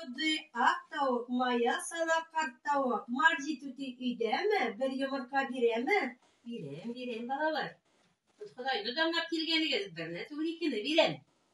Куды ак тавык, мая сала карт тавык. Марҗи түти өйдәме? Бер йомырка бирәме? Бирәм, бирәм, балалар. Ходай, дудамлап килгәнегез, берне түгел, икене бирәм.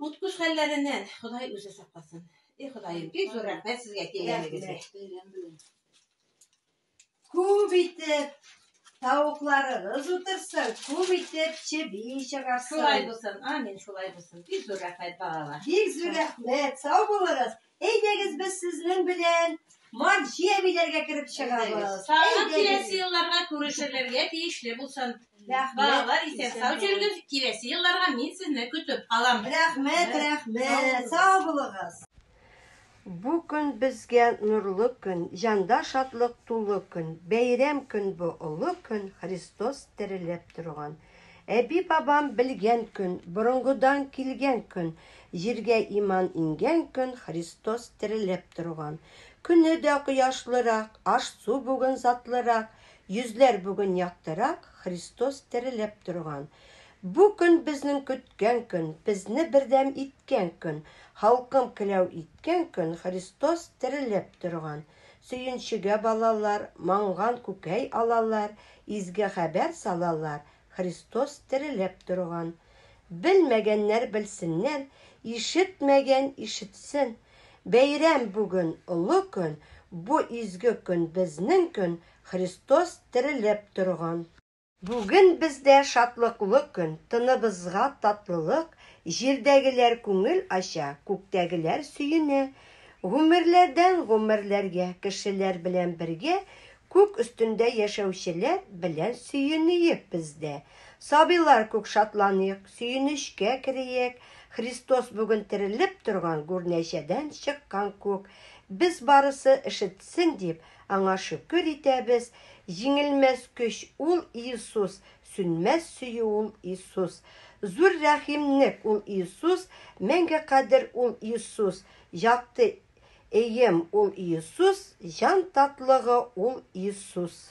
Куткыш хәлләреннән Ходай үзе сакласын. И Ходаем, бик зур рәхмәт сезгә килгәнегезгә. Күп итеп тавыкларыгыз утырсын, күп итеп чеби чыгарсын. Шулай булсын, амин, шулай булсын. Бик зур рәхмәт балалар. Бик зур рәхмәт, сау булыгыз. Әйдәгез без сезнең белән Марҗи әбиләргә кереп чыгабыз. Тагын киләсе елларга күрешерләргә тиешле булсын. Балалар исән сау җөргез, киләсе елларга мин сезне көтеп калам. Рәхмәт, рәхмәт, сау булыгыз. Бу көн безгә нурлы көн, Җанда шатлык тулы көн, Бәйрәм көн бу, олы көн, Христос терелеп торган. Әби-бабам белгән көн, борынгыдан килгән көн, җиргә иман иңгән көн, Христос терелеп торган. Көне дә кояшлырак, аш-су бүген затлырак, йөзләр бүген яктырак, Христос терелеп торган. Бу көн безнең көткән көн, безне бердәм иткән көн, халкым келәү иткән көн, Христос терелеп торган. Сөенчегә балалар, Манган күкәй алалар, Изге хәбәр салалар, Христос терелеп торган. Белмәгәннәр белсеннәр, Ишетмәгән ишетсен, Бәйрәм бүген, олы көн, Бу изге көн, безнең көн, Христос терелеп торган. Бүген бездә шатлыклы көн, Тыныбызга татлылык, Җирдәгеләр күңел ача, Күктәгеләр сөенә. Гомерләрдән гомерләргә Кешеләр белән бергә, Күк өстендә яшәүчеләр Белән сөенөек без дә. Сабыйлар күк шатланыйк, Сөенечкә кериек, Христос бүген терелеп торган Гүрнәчәдән чыккан күк. Без барысы ишетсен дип, Аңа шөкер итәбез, Җиңелмәс көч ул Иисус, Сүнмәс сөю ул Иисус. Зур рәхимнек ул Иисус, Мәңге кадер ул Иисус, Якты эем ул Иисус, Җан татлыгы ул Иисус.